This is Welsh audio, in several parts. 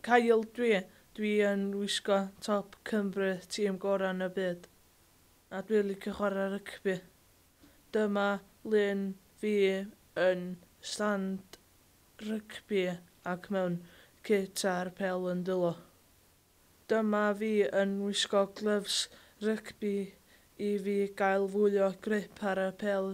Cael dwi, dwi yn wisgo top Cymru, tîm gorau yn y byd. A dwi licio chwarae rygbi. Dyma lun fi yn stand rygbi ac mewn cit a'r pêl yn dwylo. Dyma fi yn wisgo glyfs rygbi i fi gael fwy o grip ar y pêl.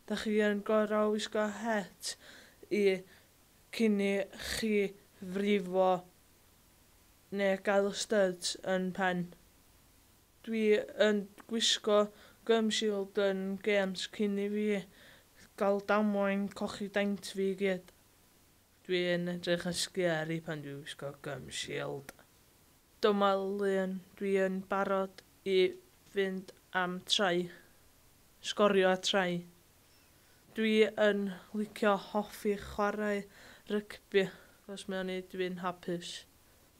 Dach chi yn gorau wisgo het i cyn i chi frifo neu gael styds yn pen. Dwi yn gwisgo gum shield yn gêms cyn i fi gael damwain cochi daint fi i gyd. Dwi yn edrych yn sgeri pan dwi'n gwisgo gum shield. Dyma Leon, dwi yn barod i fynd am try. Sgorio a try. Dwi yn licio hoffi chwarae rygbi, os mae o'n neud fi'n hapus.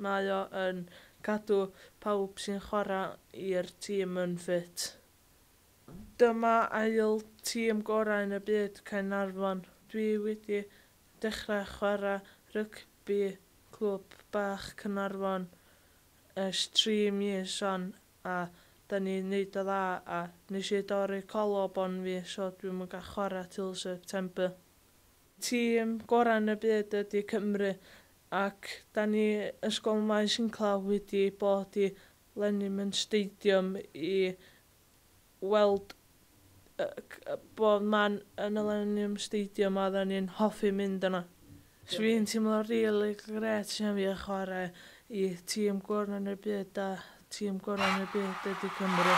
Mae o yn cadw pawb sy'n chwarae i'r tîm yn ffit. Dyma ail tîm gorau yn y byd Caernarfon. Dwi wedi dechrau chwarae rygbi clwb bach Caernarfon ers tri mis wan a 'da ni'n neud o dda a nes i dorri collarbone fi so dwi'm yn gallu chwarae til September. Tîm gorau yn y byd ydi Cymru ac 'da ni Ysgol Maes Inclawdd wedi bod i Lennyman Stadium i weld bod man y Millennium Stadium a odda ni'n hoffi mynd yna. So fi'n teimlo rili grêt iawn fi a chware i tîm gora yn y byd a tîm gora yn y byd ydi Cymru.